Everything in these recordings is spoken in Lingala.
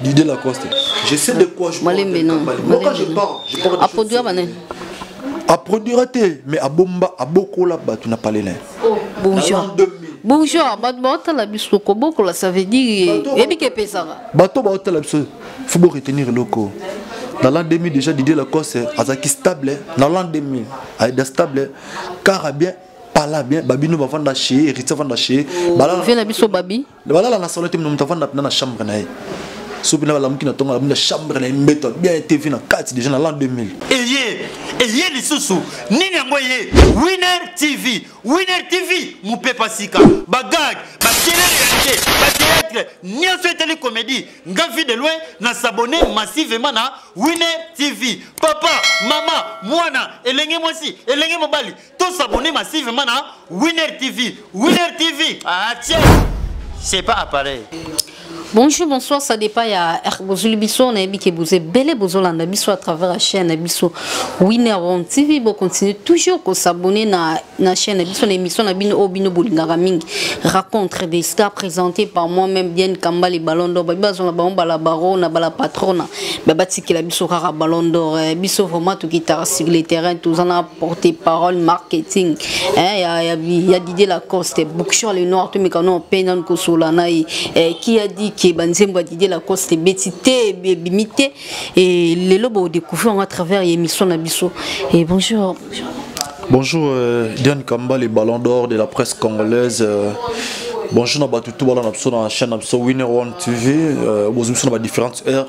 Didier Lacoste. Je sais de quoi je parle. Malembe non. Moi quand je parle, je parle de. A produire banen. A produire te, mais a bomba, a bokola batu na palais na. Oh, bonjour. Bonjour, bato baotala biso kobokola ça veut dire eyebi ke epesaka bato baotala biso faut bo retenir eloko na l'an 2000 déjà didier lacoste azalaki stable na l'an 2000 ayeda stable kara bien pala bien babino bavanda chez héritier avanda chez oh, bala na biso babi balala na solo te moto avanda mpena na chambre na ye soki mpena balamuki na ntongo alamuki na chambre na ye mbeto bien tv na kati deja na l'an 2000 eye eye lisusu nini yango eye winner tv winner tv mopepa sika bagag bakelele ya te bateatre nyonso etali komedi nga vie de loin na sabone massivement na winner tv papa mama mwana elenge mwasi elenge mobali To s'abonner massivement na Winner TV. Winner TV. Ah tiens. C'est pas appareil. Bonjour, bonsoir, ça dépend ya Bozuli Bisso, on a habité Bozé, Belle Bozolanda Bisso à travers la chaîne Bisso, Winner One TV, bon continuez toujours à s'abonner à la chaîne Bisso, l'émission Nabino Obino Bolingara Ming, raconte des stars présentés par moi-même, bien Kamba les ballons d'or, Biba Zona Baron Bala Barona, Bala Patrona, Baba Tiki la Bisso Rara Ballon d'or, Bisso vraiment tout guitare sur les terrains, tout en porte parole marketing hein, ya, ya, ya Didier Lacoste Bookshop le noir tomeka no pena kosola na ye eh, qui a dit que banzembo ya Didier Lacoste beti te ebimi te et lelo bo découvrir à travers l'émission na biso et bonjour, bonjour. Bonjour, euh, Diane Kamba, les ballons d'or de la presse congolaise. Euh, bonjour, na batu tout bala na biso na chaîne na biso Winner One TV. Euh, bozumi biso na ba différentes heures.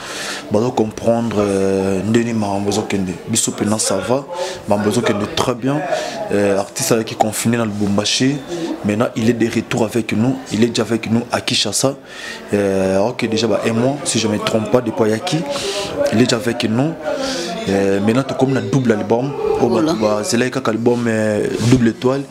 bazo comprendre euh, ndeni makambo ezokende biso mpena ça va makambo ezokende très bien euh, artiste ayaki confine na lubumbashi maintenant il est de retour avec nous il est déjà avec nous à kinshasa euh, ok déjà ba un mois si je me trompe pas depuis ayaki il est déjà avec nous maintenant tokomi na double album oyo bazelaki kaka album double étoile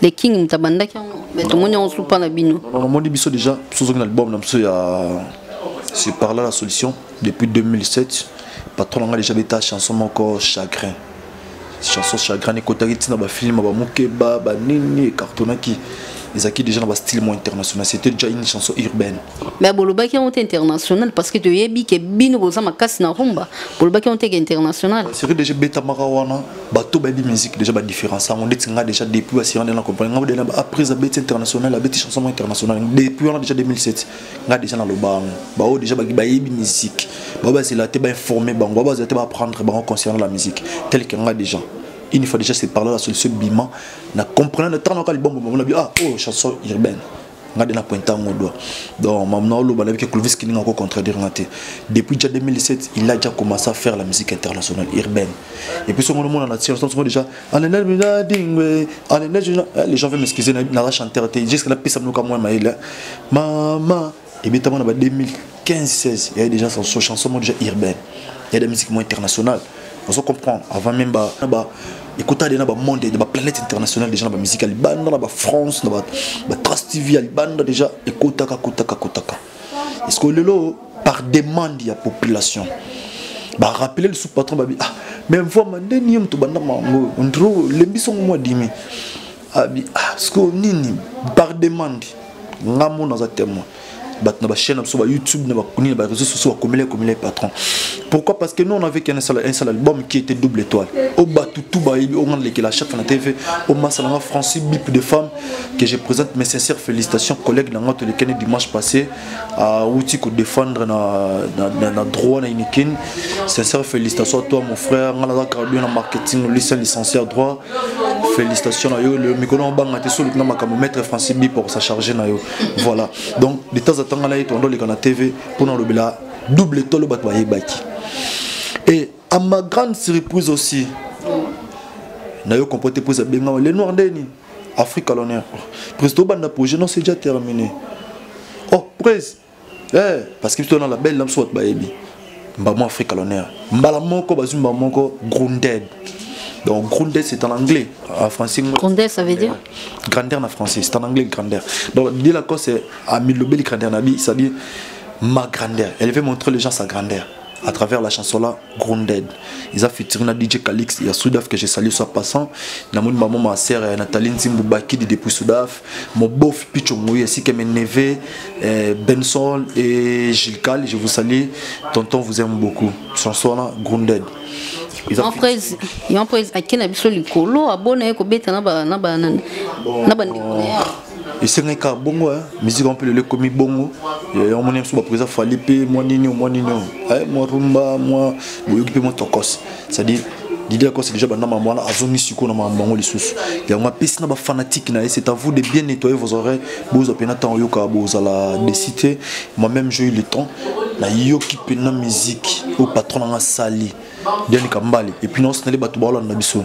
le king moto abandaki yango me tomoni yango supa na bino omoni biso déjà sozoki na album na biso ya se parla la solution depuis 2007 patron na ngai déjà beta chanson moko chagrin chanson chagrin ekotaki ntina bafilme bamokeba banini ecartonaki ezalaki déjà na bastyle mo international c'était déjà une chanson urbaine mais bolobaki yango te international parce que toyebi ke bino boza makasi na rumba bolobaki yango te ke international seri déjà ebetamaka wana bato bayebi musique déjà badifference yango ndeti nga déjà depuis basira nde na comprendre ngai dena après abeti international abeti chanson mo international depuis wana déjà 2007 ngai déjà naloba yango baoyo déjà bayebi musique bao bazela te bainforme bango bao bazela te baapprendre bango concernant la musique tel que ngai déjà une fois déjà c'est parle la solution bima na comprendre ntango naka libombo bango na bi ah oyo oh, chanson urbaine nga de na pointe yango doa donc mamu na oloba nayebi ke clovis kininga ako contredire nga te depuis déjà 2017 il a déjà commencé à faire la musique internationale urbaine et puis songo nomona na tir songo déjà anene mina dingwe anene eh, les gens veulent m'excuser na la chanteur te jusque la pesa mnoka moi maile mama ebetama na ba 2000 15 16 il y a déjà son so chanson moi déjà urbaine il y a des musiques moins internationales on se comprend avant même ba ba ekota de na ba monde de ba planète internationale déjà na ba musique libanda na ba France na ba ba Trust TV libanda déjà ekota ka kota ka kota ka est-ce que lelo par demande ya population ba rappeler le sous patron ba ah mais vraiment ndeni yom to banda mango ndro lembiso moi dimi abi ah ce que nini par demande nga mona za témoin bato na bachaîne na biso bayoutube na bakuni na bareseau sociaux bakomela ekomela ye patron pourquoi parce que nous on avait qu'un seul, un seul album qui était double étoile o oh, bato tout bayebi onga oh, nalekela chaque fois na tv o oh, masalanga francis bip de femme que je présente mes sincères félicitations collègue na nga tolekani dimanche passé awuti kodefendre na, na, na, na droit na unikin sincère félicitation à toi mon frère nga naza gradué na marketing lycée licencié à droit félicitation na yo mikolo na obanga te soluki na makambo maître francis bip okosacharge na yo voilà donc de temps à temps ngana yetu andoleka na tv mpona olobela double tolo bato bayebaki et à ma grande surprise aussi nayo comporte prise abengama le noir ndeni afrique à l'honneur prise tobanda projet non c'est déjà terminé oh prise eh, parce que biso na label na biso bato bayebi mbamo afrique l'honneur mbala moko bazwi mbala moko grounded donc grounded c'est en anglais en français grounded ça veut dire grandeur na français c'est en anglais grandeur donc de la cause c'est amilobeli grandeur na bi c'est-à-dire ma grandeur elle veut montrer les gens sa grandeur à travers la chanson là Grounded. Ils ont featuring na DJ Calix ya Sudaf que je salue soit passant. Na mon maman ma sœur ya Nathalie Nzimbu Bakidi depuis Sudaf. Mon beau Picho Moui ainsi que mes neveux euh, Benson et Gilles Cal. Je vous salue. Tonton vous aime beaucoup. Chanson là Grounded. Ils ont featuring- yon pres ake na biso likolo abona ye kobeta na ba- na ba- na- na bandeko na ye esengaki kaka bongo miziki yango mpe lelo ekomi bongo yango moni biso bapreza fali mpe mwa nini mwa nini mwa rumba mwa boyoki mpe mwa tokos cestadire didi akosi déjà banda makambo wana azongi sikoyo na makambo yango lisusu yango apesi na bafanatike na ye c'est à vous de bien nettoyer vos oreilles bozwa mpena ntango oyoka bozala desi te moi même j'ai eu le temps nayoki mpena miziki oyo patron nanga asali dianika mbale epuis naosinali bato baolanda biso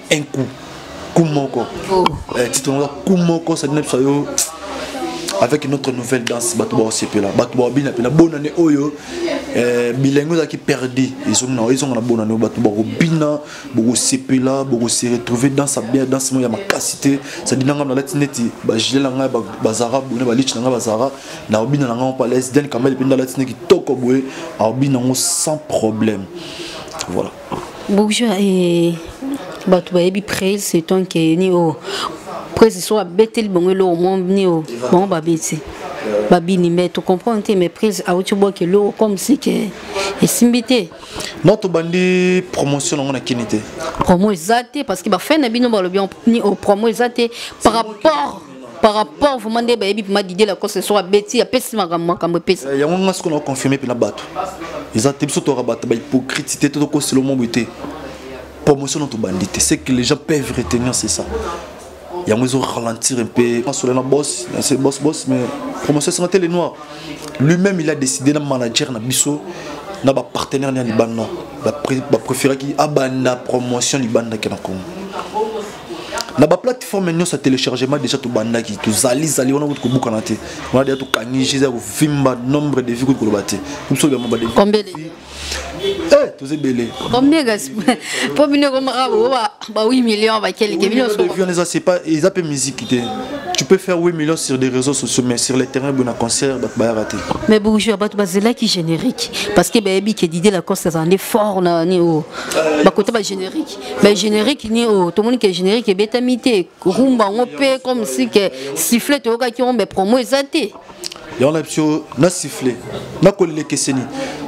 un coup coup moko oh. eh, titre yango coup moko ça dina biso yo avec une autre nouvelle danse bato baosepela bato baobina mpena bonane oyo eh, bilingue ezalaki perdi ezonga ezonga na bonane oyo bato bakobina bokosepela bokose retrouve danse ya bien danse moko ya makasi te sadi na ngai nalati neti bagile na ngai bazara bone balici na ngai bazara naobina na ngai palace den kamele mpe ndalati ne kitoko boye aobina yango sans problème voilà bourgeois eh, bato bayebi prel c'est ton ke ni o presi so abeteli bango eloko mo ni o bango babeti babini me tocomprendre te mais presi auti obwaka eloko comme si ke esimbi te non tobandi promotion nango na kini te promo eza te parce que bafai na bino balobi ni o promo eza te par rapport par rapport vraiment nde bayebi mpema didie lacoste so abeti apesi makambo makambo epesa eh, yango nga sikoyo naconfirme mpena bato eza te biso toyaka bato bahypocrite te to tokosela omwa boye te promotion na tobandi te ce que les gens peuvent retenir c'est ça yango ezo ralentir un peu masolo na boss c'est boss boss mais promotion esanga te le noir lui-même il a décidé na manager na biso na bapartenaire na ya libanda bapréféraki abanda promotion libandaki na congo na baplateforme nyonso ya téléchargement déjà tobandaki tozali zali wana kutu kobukana te wana deja tokangi jeu ya kovimba nombre de vie kutu koloba te biso biamo bade eh, toza ebele mpo bino ekomaka ba 8 million bakelike bino eza mpe miziki te tu peux faire 8 millions sur des réseaux sociaux, mais sur les terrains, bon, concert, bah, bah, raté. Mais bonjour, bah, bah, c'est là qui générique. Parce que, bah, que l'idée, la course, c'est un effort, là, au, bah, côté, bah, générique. mais générique ni oyo tomoni ke générique ebetami te rumba yango mpe comme si ke sifflet toyokaki yango mais promo eza te yango na biso na sifflet nakolela ekeseni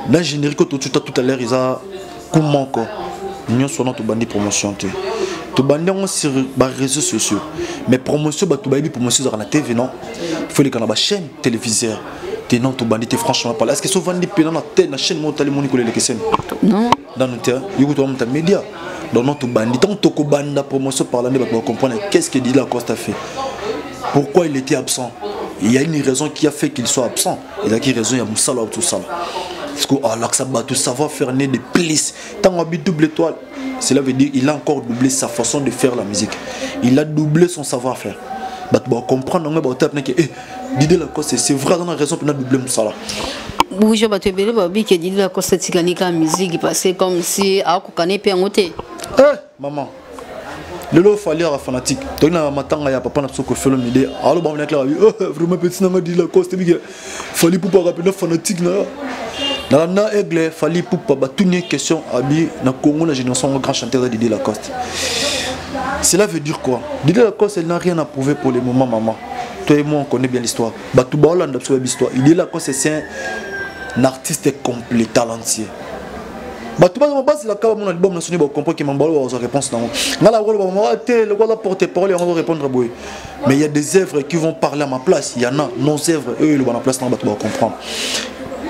na générique oyo tocuta tout à l'heure eza ku moko nyonso wana tobandi promotion te tobandi yango sur baréseau sociaux mais promotion bato bayebi promotion ezalaka na tv non faut eleka na bachaîne téléviseur te non tobandi te franchement pala est ce que so ovandi mpena na chaîne moko otali moni kolela ekeseni dans notre terrain yo kutu bamuta media donc non tobandi ntango tokobanda promotion parla nde bato bacomprendre qu'est-ce que didila costa fait pourquoi il était absent il y a une raison qui a fait qu'il soit absent ezalaki raison ya mosala wa tosala parce que alakisa bato savoir faire ne de plus ntango abi double étoile cela veut dire il a encore doublé sa façon de faire la musique il a doublé son savoir faire bato bacomprendre yango baotape nake Didier Lacoste c'est vrai dans la raison pour la Bible musala bonjour bato ebele balobi ke didi lakosa etikali kaka musique parce comme si akokana epe yango te eh, maman lelo fali aka fanatique toki na matanga ya papa na biso kofelo mide aloba mona clara oh, eh, vraiment petit nanga didi lakoste bike fali pupa aka mpenza fanatique na yo nalanda aigle fali pupa batuni question abi na congo na génération yango grand chanteur ya didi lacoste cela veut dire quoi didi lacoste elle n'a rien à prouver pour le moment maman Toi et moi, on connaît bien l'histoire. Batouba Hollande, l'histoire. Il est là quand c'est un artiste complet, talentueux. bato baza basilaka bamona libamu na soni bacomprendre ke mambalo bazwa réponse nango nga na koloba mama te lokola porte parole yango azorépondre boye mais il y a des œuvres qui vont parler à ma place il y en a nos œuvres oyo eloba na place nango bato bacomprendre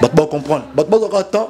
bato bacomprendre bato bazwaka temps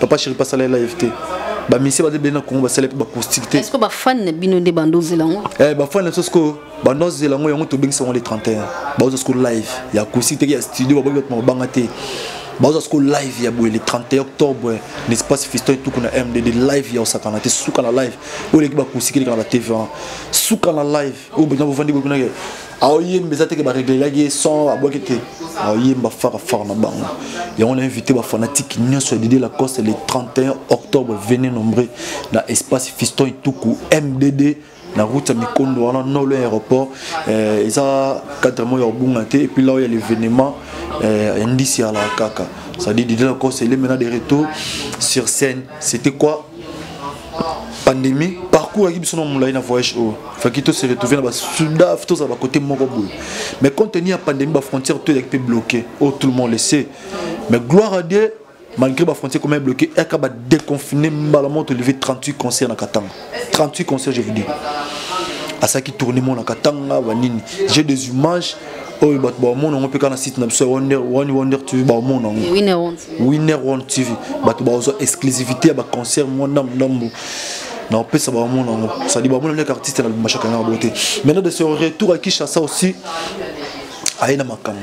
papa chéri pasala ye live te bamisie baza ebele na congo basala mpe bacoustique te ceque bafani na bino nde bando ozela yango eh, bafani na biso sikoyo bando azela yango yango tobengisa yango le 31 baoza sikoyo live ya acoustique teke ya studio baboki bato mabanga te baoza sikoyo live ya boye le 31 octobre na espace fiston etuku na mdd live ya osakana te suka na live oyo eleki bacoustique eleka na batv wana suka na live oyo bovandi bokunake aoyemba eza teke bareglelaki ye son abwaki te aoyemba fara fara na bango yango na invité bafanatike nyonso ya didie lacoste le 31 octobre vene nombre na espace fiston ituku mdd na route ya mikondo wana nolo ya aéroport eh, eza cadre moko ya kobunga te epuis lao ya l'événement eh, ya ndisi ya la kaka c'est-à-dire didie lacoste elemena de retour sur scène c'était quoi pandémie parcours ayaki biso na molai na voyage oyo faki to se retrouve na basudaf tozala bakote moko boye mais compte tenu ya pandémie bafrontière to ezalaki mpe bloqué oyo oh, tout le monde le sait mais gloire à dieu malgré bafrontière ekoma ebloqué yaka badeconfine mbala moko tolive 38 concert na katanga 38 concerts je vous dis asalaki tourne monaka tanga banini j'ai des images oyo bato baomona yango mpe kaka na site na biso ya wani wonder tv baomona yango winner one tv bato baozwa exclusivité ya baconcert mwa ndambu ndambu na opesa baomona yango sadi baomona ndeke artiste na bimashaka yango boye te maintenant de se retour à kinshasa aussi aye na makambo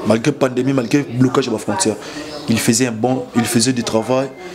malgré pandémie malgré blocage ya bafrontière il faisait un bon il faisait du travail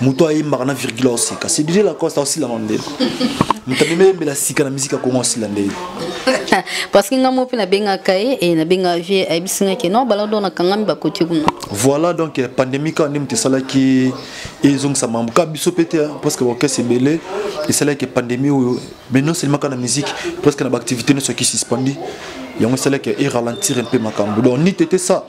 moto ayembaka na virgule aoseka c'est dj lacoste aosilama nde moto amemi ayembela sika na miziki ya kongo asila nde parce que nga mo mpe nabengaka ye e nabengaka vie ayebisi nga ke non balado nakangami bakoti kuna voilà donc eh, pandémie kaka nde moto esalaki ezongisa mambo kaka biso mpe te parce que orchestre ebele esalaki pandémie oyo mais non seulement kaka na musique presque na baactivité nyonso eki suspendi yango esalaki e ralentir un peu makambo donc nite te ça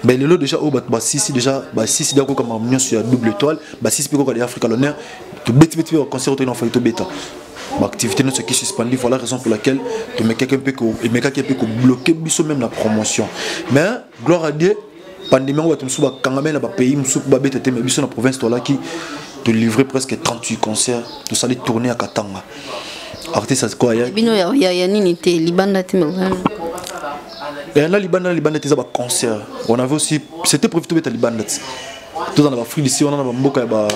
mais lelo déjà oyo bato basisi déjà basisi déjà koyoka makambo nyonso ya double étoile basisi mpe koyoka de africa l'honneur tobetibeti mpe baconcert otoki na fali tobeta baactivité nyonso eki suspendi voilà raison pour laquelle tomekaki mpe emekaki mpe kobloke biso même na promotion mais gloire à dieu pandemie yango bato mosusu bakangami na bapays mosusu mpo babeta te me biso na province tolaki tolivre presque 38 concert tosali tourne ya katanga artiste azikoa ya bino ya, ya, ya nini te libanda te eh, na libanda na libanda te eza baconcert on avait aussi c'était prévu tobeta libanda te tozala na bafri disi wana na bamboka ya ba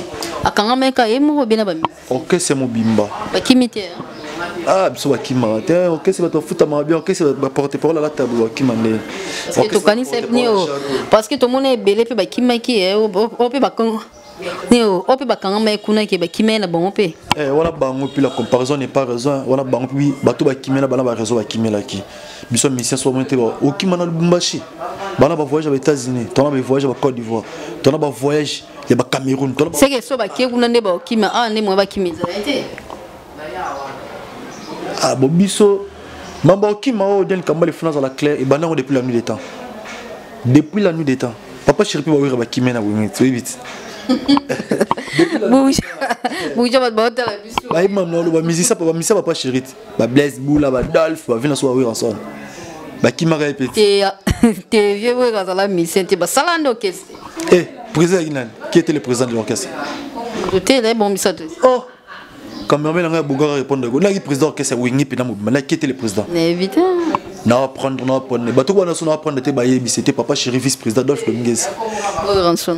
akangameka ye moko bie na bami orchestre mobimba bakimi te ah biso bakimaka te orchestre bato bafutamaka bien orchestre baporte parole alata boye bakima nde tokanisa nio parce que tomona ebele mpe bakimaki eh, o mpe bakongo nio o mpe bakangama ye kuna ke bakima ye na bango mpe eh, wana bango mpe la comparaison n'est pas raison wana bango mpe bato bakimela bana ba réseau bakimelaki biso misien so bamoni te okima na lubumbashi bana bavoyage ya baétats-unis tona bavoyage ya bacôte d'ivoire tona bavoyage ya ba Cameroun tolo c'est que so ba kiye kuna nde ba okima a ah, nde mwa ba kimi ezala te ah bo biso mamba okima o oh, den kamba le finance la claire et banango depuis la nuit des temps depuis la nuit des temps papa chiripi ba wira ba kimi na wimi tu vite buja buja ba ba tala biso ba imam na lo ba musicien ba musicien papa chirite ba blaise bula ba dolph ba vina so ba wilson bakimaka ye peti te ah, te vieux wego azala musicien te basala nde orchestre eh président yaki nani qui était le président de l'orchestre te na ebongisa te oh cameraman nanga bongaka répondre ko naki président orchestre wingi pena mobima naki qui était le président na évite na prendre na prendre bato wana so na prendre te bayebisi te papa chéri vice président Adolphe Dominguez oh, Ranson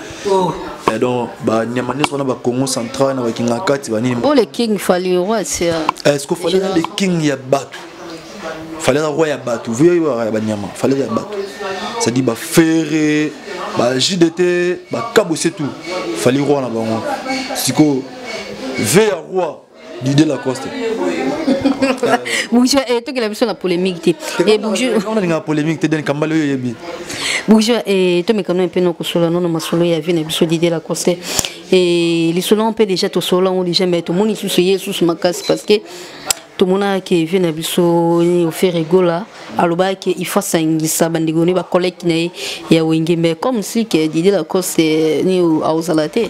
oh. Eh, donc banyama nyonso wana bacongo central na bakingakati banini oh, le king fali roi eh, ce que fali na le king ya bato fali aza roi ya bato voyeyaka ya banyama fali ya bato cestadire bafere ba jdt bakabose tout fali roi na bango sikoyo ve ya roi Didier Lacoste. Bourgeois, et toi qui l'as vu sur la polémique, t'es. Et bourgeois. On a une polémique, t'es d'un cambalio yebi. Bourgeois, et toi, mais quand même, peu non, solo, non, ma solo, y'a vu, n'a vu, Didier Lacoste. Et les solos, on peut déjà, tout solo, on déjà, mais tout le monde, il sous, il sous ma casse, parce que. tomonaka vie na biso ofere egola alobaki il faut asangisa bandeko ne bacollègue na ye ya wenge mais comme si ke didi lacoste ni aozala te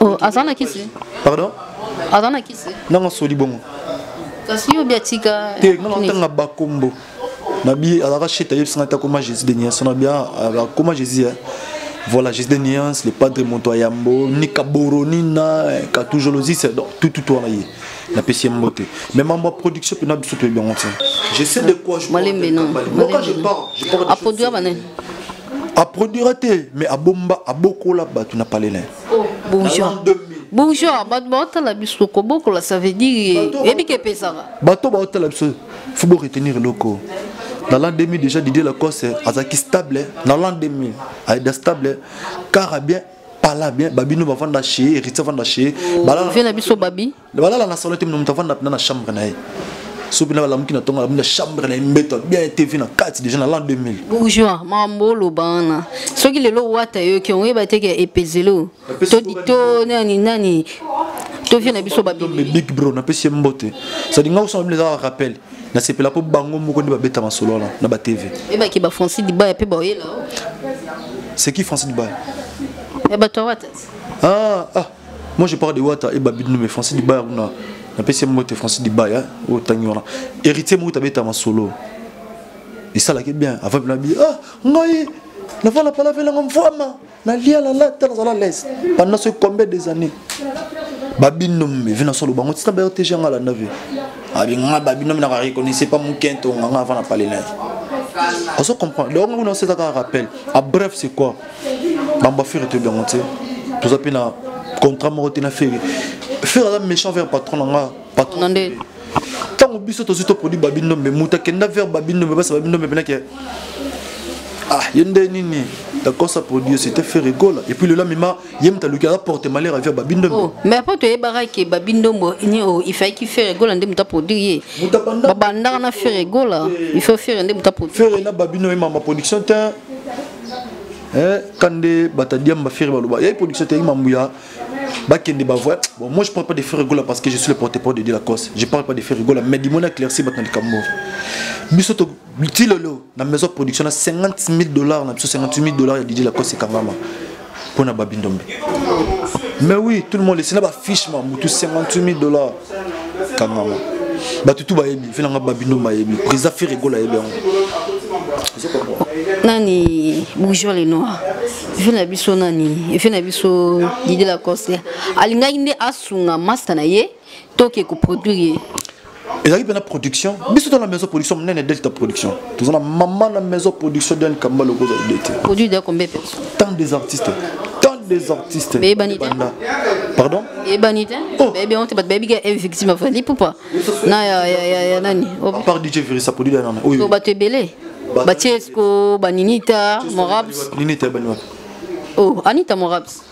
Oh, aza na kisi pardon aza na kisi ndanga asoli bongo kasi yo biatika te nga natanga bakombo na bi azalaka sheta yebisi nga te akoma jésus de niance na bia akoma jésus eh. voilà jésus de niance le padre moto ya yambo ni kaboro ni na eh, katujolosise eh, donc tout tout wana ye napesi ye mbote mais mambo ya production mpena biso toyebi yango te je sais de quoi je malembe non aproduira banani aproduira te mais abomba abokola bato na palelin Oh, bourgeois bourgeois bato baotala biso kobokola ça veut dire eyebi ke epesaka bato baotala biso fo bo retenir eloko na l'an 2000 déjà didier lacoste azalaki stable na l'an 2000 ayeda stable kara bien pala bien babino bavanda chez héritier avanda chez oh, balala na biso babi balala na solo te moto avanda mpena na chambre na ye soki mpena balamuki na ntongo alamuki na chambre na ye mbeto bien tv na kati déjà na l'an 2000 bourgeois mambo oloba wana soki lelo wata yoki oyeba te ke epezelo to nani nani tovie na biso babibig bro napesi ye mbote sadi ngai osoma bino ezaka rappel nasepela mpo bango moko nde babeta masolo wana na batv ebaki ba francis dibaya mpe baoyela c'est qui francis dibaya ya bato ya wata ah ah Moi je parle de Wata et Babi mais Francis Dibaya kuna na pesi mo te Francis Dibaya au Tanyora. Héritier mo tabeta ma solo. Et ça là qui bien avant la bi ah ngai na vala pala vela ngam fama na lia la la tala la laisse pendant ce combien des années. Babi no mais vina solo bango tina ba te janga la nave. Abi nga babi no na reconnaissait pas mon kento nga avant na parler là. On se comprend. Donc on a cet rappel. À bref c'est quoi bamba fere toyebi yango te toza mpe na contrat moko te na fere fere aza méchant vers patron na nga patron nde ntango biso tozwi toproduit babindombe moto akenda vers babindombe basa babindombe mpenake ah ye nde nini dakosa produit c'était fait rigola et puis lola mema ye moto aluki aza porte malheur avia babindombo oh, mais mpo toyebaka ke babindombo oh, ifaiki fere gola nde moto aproduire ye babandaka na fere gola eh. il faut fere nde moto aproduire fere na babindombo emama production te eh, kande batadiamba fere baloba yai production te yai mambo ya bakende bavoya bon moi je parle pas de fere rigola parce que je suis le porte-parole de dilacoste je parle pas de fere rigola mais dimoni aclairci bato na likambo biso ti lelo na maison production na 50 000 dollars na biso 58 000 dollars ya didi lacoste ekangama mpo na babi ndombe mais oui tout le monde esina bafiche ma motu 58 000 dollars kangama bato tu bayebi mpe nanga babi ndombe ayebi président ferregol ayebi yango nani bourgeois le noir vie na biso nani vie na biso didi lacoste alingaki nde asunga masta na ye toke ko produire ye ezalaki mpe na production biso to na maison production monene delta production toza na mama na maison production dan kamba loko ozali de te produit de combien personne tant des artistes tant des artistes beyebani te pardon beyebani te oh. beyebi yango te bato bayebi ke eh, victime afali pupa na ya nani par dj virisa produit ya nana oyo bato ebele batiesco baninita morabs ninita ebani wapi oh anita morabs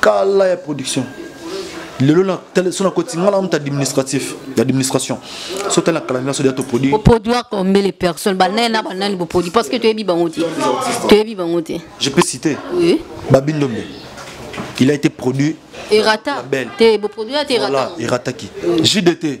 kala ya production lelo na tele so na koti ngala mutu administratif d'administration so tele na kala na so dia to produit au produit combien les personnes ba nana ba nani bo produit parce que tu es bi bango te tu es bi bango te je peux citer oui babindombe il a été produit erata te bo produit erata voilà erata qui JDT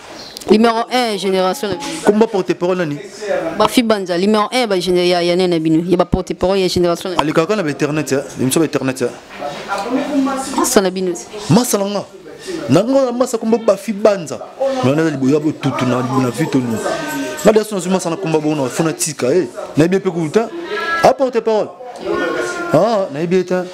Numéro 1 génération na bino. Kumba porte parole nani? Ba Fibanza numéro 1 ba génération ya ya nene bino. Ya ba porte parole ya génération na. Ali kaka na internet ya, bimso ba internet ya. Masa na bino. Masa na nga. Na nga na masa kumba ba Fibanza. Na na liboya bo tutu na na vito ni. Na daso na masa na kumba bo na fona tika eh. Na bien pe kuta. Apporte parole. Ah, na bien ta.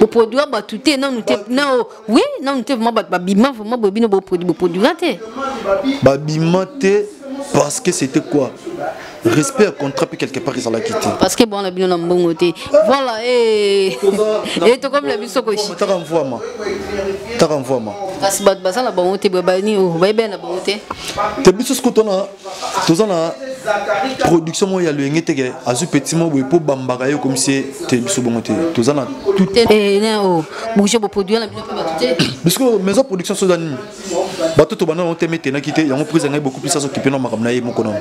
boproduire bato te nanu te nao oui nanu te vraimen bato babima vraimen boye bino boproduira te babima te parce que c'était quoi respect ya contrat mpe quelque part ezalaki te parce que bwana bino na mbongo te voilà e eh. tokomi na biso kotaka mvwama taka mvwama kasi bato baza na bango te boye bayini oh, bayebela na bango te te biso sikoyo tona toza na production moko ya loyenge teke azwi petit moko boye mpo bambaka ye komisi ye te biso bongo te toza na bouge boproduire na bino mpe bato te biso maison production soza nini bato tobanda yango te metenaki te yango prise yangai beaucoup plus azokipe na makambo na ye moko nango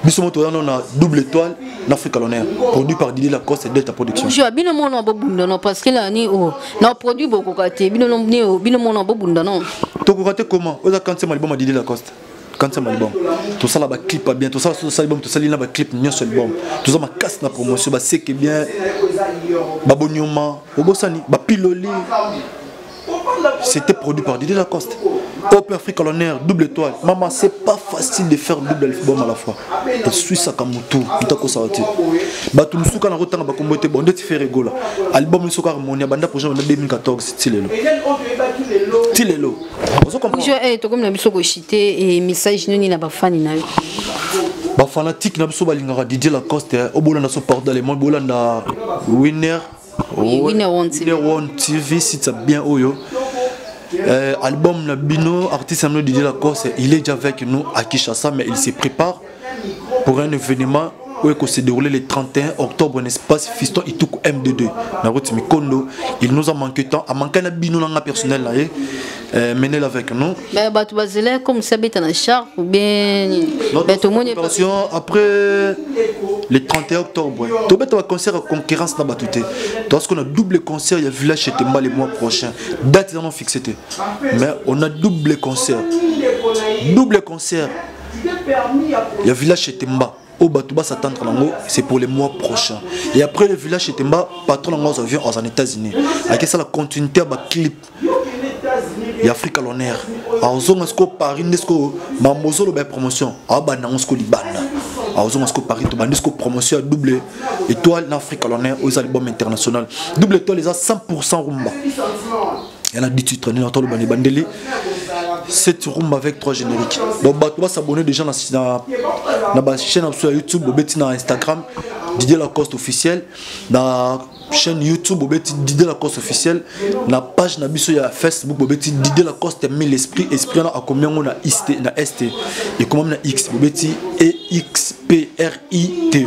biso moto wana na double étoile na afrique l'honneur produit par didi lacoste delta production jo bino mona bobunda no parce que la ni o na produit bokoka te bino bino mona bobunda no tokoka te comment oza kanse maliboma didi lacoste kanisa malibom tosala baclip ya bien tosala so tosali bom tosali na baclip nyonso libom toza makasi na promotion baseke bien babonyoma obosani bapiloli c'était produit par Didier Lacoste Open Afrique à l'honneur, double étoile. Maman, c'est pas facile de faire double album à la fois. Et suis ça comme tout, tout à coup ça va dire. Bah tout le monde a autant de combo était bon, de faire rigola. Album le soir mon banda projet en 2014, c'est Tilelo. Tilelo. ozokomprendre eh, tokomi na biso koshite e eh, message nini na bafani na yo bafanatike na biso balingaka didie lacoste eh. obolanda so pardon allemand bolanda winner winner one tv site bien oyo Euh, album Nabino, artiste Amno Didier Lacoste, il est déjà avec nous à Kishasa, mais il se prépare. pour un événement oyo se déroulé le 31 octobre n'est-ce pas fiston ituku m22 na route mikondo il nous a manqué temps a manqué na bino na nga personnel na ye euh, menel avec nous mais bato bazela comme ça beta na char ou bien bato moni attention après le 31 octobre to beta concert concurrence na bato te to ce qu'on a double concert il y a village chez Temba le mois prochain date ils en ont fixé mais on a double concert double concert ya village chetemba oyo bato basatandre nango c'est pour le mois prochain et après le village chetemba patron nango azo avion aza na états-unis akesala continuité ya baclip ya afrika loner azonga sikoyo paris nde sikoyo mambo ozoloba ya promotion abanda yango sikoyo libanda azonga sikoyo paris tobandi sikoyo promotion ya double étoile na afrika loner oyo eza libome international double étoile eza 100 rumba ya na dititre nini atoloba na ebandeli cette rumba avec trois génériques bon bato basabonne déjà na, na, na bachaîne na biso ya youtube bobeti na instagram didier lacoste officiel na chaîne youtube bobeti didier lacoste officiel na page na biso ya facebook bobeti didier lacoste mille esprit esprit wana akomi yango na iste na este ekomami na x bobeti exprite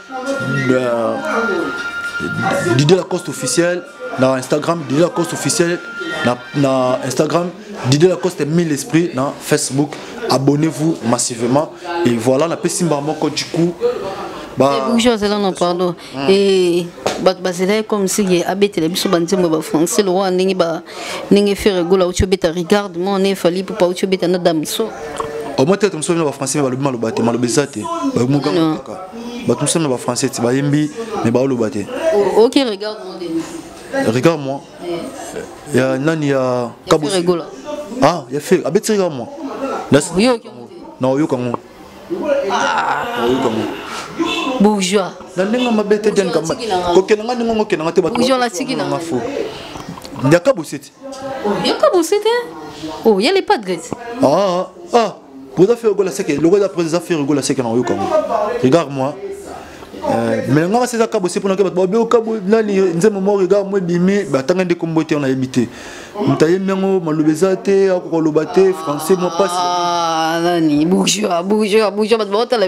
Euh, Didier Lacoste officiel na Instagram Didier Lacoste officiel na, na Instagram Didier Lacoste mille esprits na Facebook abonnez-vous massivement et voilà na pesi mbala moko du coup ba eh, bonjour zela non pardon hmm. et bato bazelaki comme si ye abetela biso banzembo ya bafrançais lokola ndenge ba ndenge fere gola auti obeta regarde moi on est fali pupa auti obeta na damso omoi tete mosusu bino bafrançais me balobi maloba te maloba eza te bamoka bato mosala na bafrançais ti bayembi me baoloba te ok regarde mon demi regarde moi eh. ya nani ya kabo ah ya fer abeti regarde moi na oyoka ngo ah. oyoka ngo bourgeois na ndenge mabe te diane kamba kokenda nga ndenge ngo kenda nga te bato bourgeois na tiki na nga fo ya kabo seti yoka bosi te oh ya les padres ah ah boza faire gola seke logo ya président faire gola seke na yoka ngo regarde moi euh, mais nga seza kabo se pona ke bato babe okabo nani nzembo mo regarde moi bimi batanga nde kombo te na yebi te moto ayembi yango maloba eza te akoka loba te français mwa mpasi ah, nani bourgeois bourgeois bourgeois bato baotala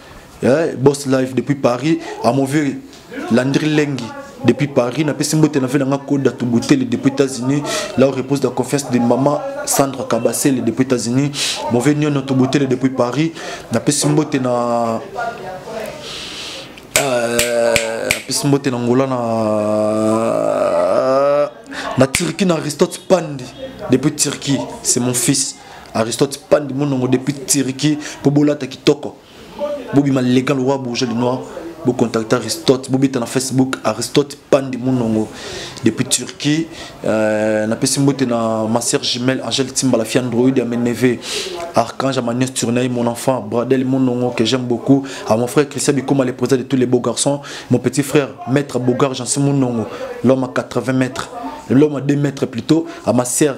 eh, boss live depuis paris amoviri landri lengi depuis paris napesi mbote na vela nga koda tubuteli depuis états-unis là où repose la confiance de maman sandra kabasele depuis états-unis mauvais niono tubuteli depuis paris napesi mbote na euh, napesi mbote na ngola na na turquie na aristote pandi depuis turquie c'est mon fils Aristote pandi monongo depuis Turquie po bolata kitoko. Bobi maleka le roi bourgeois du noir. Bo contacter Aristote, bobeta na Facebook Aristote pandi monongo depuis Turquie. Euh, na pesi mbote na ma sœur jumelle Angèle Timba la fille android ya Meneve. Archange Amanias Turnaï mon enfant, Bradel monongo que j'aime beaucoup. À mon frère Christian Bikoma le président de tous les beaux garçons, mon petit frère maître Bogar Jansi monongo, l'homme à 80 mètres, l'homme à 2 mètres plutôt, à ma sœur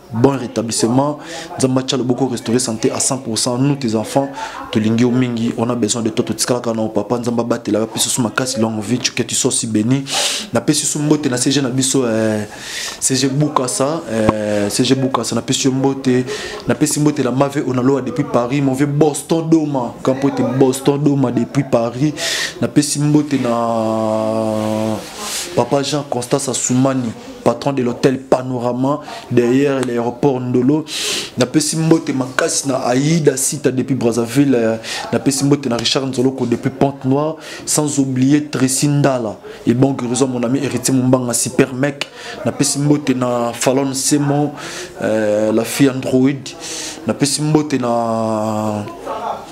bon rétablissement nzambe atya loboko restaurer santé à 100% nous tes enfants tolingi yo mingi on a besoin de toi totikalaka na papa nzambe abatela yo apesi so makasi longue vie que tu sois si béni napesi so mbote na cg na biso eh, cg bukasa eh, cg bukasa napesi yo mbote napesi mbote la mave onaloa depuis paris mon vieux boston doma kampo ete boston doma depuis paris napesi mbote na papa jean constant sasumani patron de l'hôtel Panorama derrière l'aéroport Ndolo. Na pesi mbote makasi na Aïda Sita depuis Brazzaville, euh, na pesi mbote na Richard Nzoloko depuis Pente Noire, sans oublier Tracy Ndala et bon guérison mon ami héritier Mumbanga super mec. Na pesi mbote na Fallon Semo, euh, la fille Android. Na pesi mbote na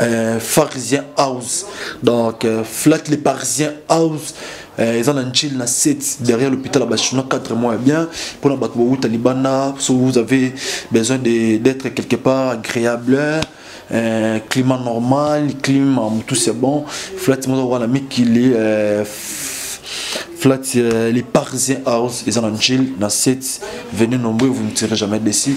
euh, pharisien house donc euh, flat les parisiens house euh, eza na njili na 7 derrière l'hôpital ya bachinois 4 mois ya bien mpona bato bowuta libanda so vous avez besoin d'être quelque part agréable euh, climat normal climat motu c'est bon flat moza wana mikili euh, flat euh, les parisiens house eza na njili na 7 venez nombreux vous ne serez jamais déçu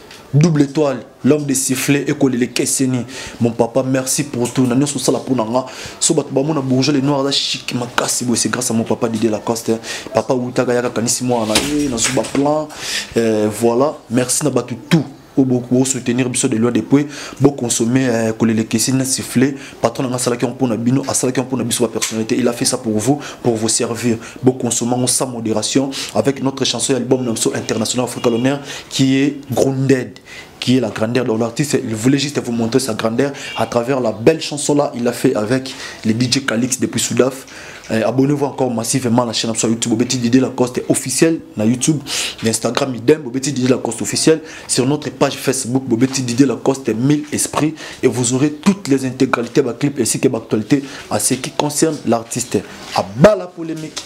double étoile l'homme de sifflet ekolele keseni mon papa merci pour tout na nyonso osala mpo na nga so bato bamona bourgeois le noir aza chic makasi boye c'est grâce à mon papa didie lacoste papa wutaka yaka kanisi mwana na ye nazwi baplan euh, voilà merci na bato tout oyo bosoutenir biso de loin de pue boconsommer euh, kolele keseni na sifflet patron nanga asalaki yango mpona bino asalaki yango mpona biso bapersonnalité il a fait ça pour vous pour vous servir boconsomma yango sans modération avec notre chanson ya album na biso international africa l'honneur qui est grounded qui est la grandeur. Donc l'artiste, il voulait juste vous montrer sa grandeur à travers la belle chanson là. Il l'a fait avec les DJ Calix depuis Soudaf. Euh, abonnez-vous encore massivement à la chaîne sur YouTube. Bobeti Didier Lacoste officiel na YouTube, Instagram idem. Bobeti Didier Lacoste officiel. Sur notre page Facebook, Bobeti Didier Lacoste 1000 esprits et vous aurez toutes les intégralités de clip ainsi que l'actualité à ce qui concerne l'artiste. À bas la polémique.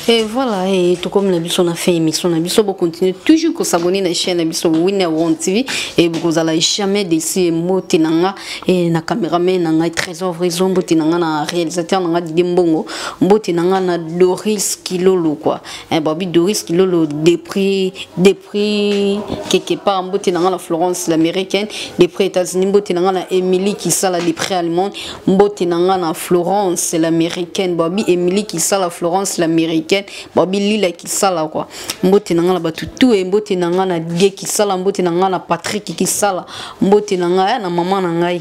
Et voilà, et tout comme la biso a fait émission, la biso vous continuer toujours à s'abonner à la chaîne la biso Winner One TV et vous allez jamais décider moti nanga et na caméraman nanga trésor raison moti nanga na réalisateur nanga Didier Mbongo, moti nanga na Doris Kilolo quoi. Eh, Bobby Doris Kilolo depuis depuis quelque part mbote na la Florence l'américaine depuis États-Unis mbote na la Emily qui sala depuis allemande mbote na la Florence l'américaine Bobby Emily qui sala Florence l'américaine Bobby Lila qui sala quoi mbote na la batu tout et mbote na la Die qui sala mbote na la Patrick qui sala mbote na la eh, na maman na ngai